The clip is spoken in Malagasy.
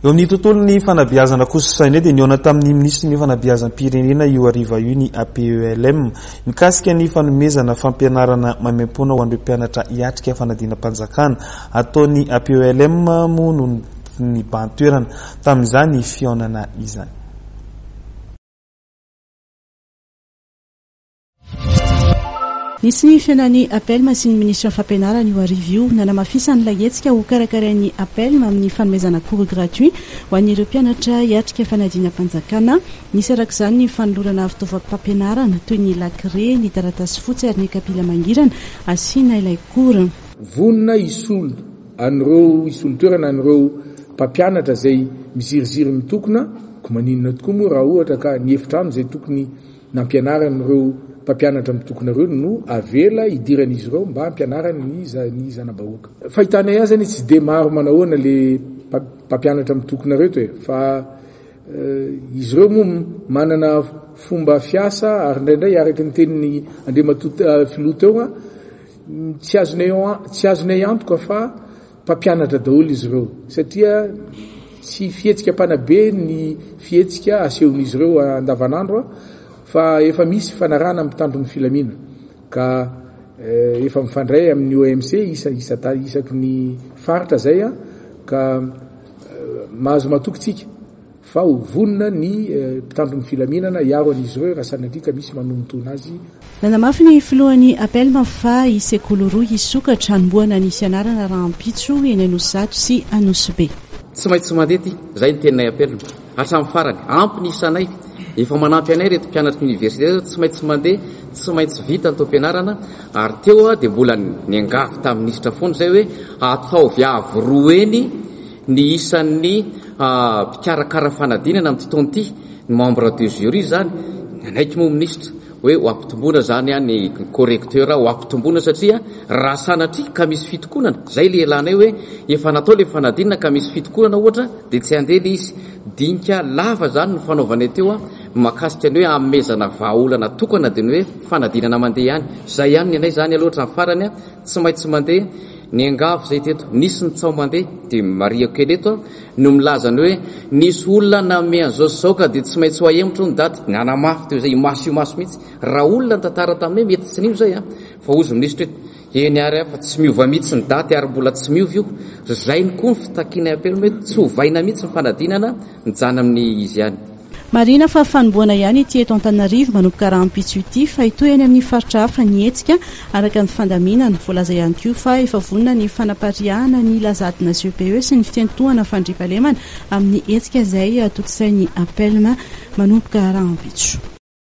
Eo amin'ny tontolon'ny fanabeazana kosa sainay dia nihaona tamin'ny minisitry ny fanabeazam-pirenena io hariva io ny APELM mikasika ny fanomezana fampianarana maimaimpoana ho an'ireo mpianatra hiatrika fanadinam-panjakana ataon'ny APELM moa no nibahan-toerana tamin'izany fihaonana izany. Nisy ny fihaonan'ny APELMA sy ny minisitry ny Fampianarana io hariva io, nanamafisany ilay hetsika hokarakarain'ny APELMA amin'ny fanomezana cours gratuit ho an'ireo mpianatra hiatrika fanadinam-panjakana. Nisy araka izany ny fanolorana fitaovam-pampianarana toy ny lakire, ny taratasy fotsy ary ny kapila mangirana asiana ilay cours. Vonona hisolo an'ireo hisolo toerana an'ireo mpampianatra izay miziriziry mitokona, koa maninona tokoa moa raha ohatra ka ny efitrano izay tokony Nampianaran'ireo mpampianatra mitokona ireo ny no avela hidiran'izy ireo mba hampianarany ny ny zana-bahoaka. Fahitanay azy anie tsy dia maro manahoana le mpampianatra mitokona reto e! fa izy ireo moa manana fomba fiasa ary indraindray araka ny tenin'i Andriamatoa filoha teo an, tsy azonay tsy azonay antoka fa Mpampianatra daholo izy ireo satria tsy fihetsika mpanabe ny fihetsika asehon'izy ireo andavanandro fa efa misy fanarahana mpitandro ny filamina ka efa mifandray amin'ny OMC isaky ny faritra izay ka mahazo matoky tsika. fa ho vonona ny mpitandro ny filaminana hiaro an'izy ireo raha sanatria ka misy manonontona azy. Nanamafy ny filohan'ny APELM fa hisy sekoly roa hisokatra hanombohana ny fianarana rahampitso eny Anosizato sy Anosibe. Tsy maintsy mandeha aty, izay ny teninay APELM hatramin'ny farany. Ampy ny isanay, efa manampy anay ireto mpianatry ny oniversite ireto, tsy maintsy mandeha, tsy maintsy vita ny taom-pianarana, ary teo dia mbola niangavy tamin'ny minisitra foana izay hoe ataovy avo roa eny, Ny isan'ny mpikarakara fanadinana amin'ity taona ity, ny membre de jury izany, nanaiky moa minisitra hoe ho ampitomboina izany ny correcteur, ho ampitomboina satria raha sanatria ka misy fitokonana, izay ilay ilanay hoe efa natao ilay fanadinana ka misy fitokonana ohatra dia tsy handeha ilay izy. Dinika lava izany no fanaovanay teo mahakasika ny hoe hanomezana vahaolana tokana dia ny hoe fanadinana mandeha ihany. Izay ihany ny anay izany aloha hatramin'ny farany, tsy maintsy mandeha. Niangavy izay teto, nisy ny tsaho mandeha, dia marihiko kely eto no milaza ny hoe nisy olona nanome an'izao sy izao ka dia tsy maintsy ho ahemotro hono daty, nanamafy teo izay imaso imaso mihitsy, raha olona nitantara taminay mety tsy nino izay an, fa hozy minisitra eto, eny ary an fa tsy miova mihitsy ny daty ary mbola tsy miova io, ry zainy koa ny fitakianay apelme tsy ovaina mihitsy ny fanadinana, mijanona amin'ny izy ihany. Marihina fa fanombohana ihany ity eto Antananarivo manomboka rahampitso ity fa hitohy any amin'ny faritra hafa ny hetsika, araka ny fandaminana. Voalaza ihany koa fa efa vonona ny fanapariahana ny lazadina CEPE sy ny fiantohana fandriampahalemana amin'ny hetsika izay tontosain'ny APELM manomboka rahampitso.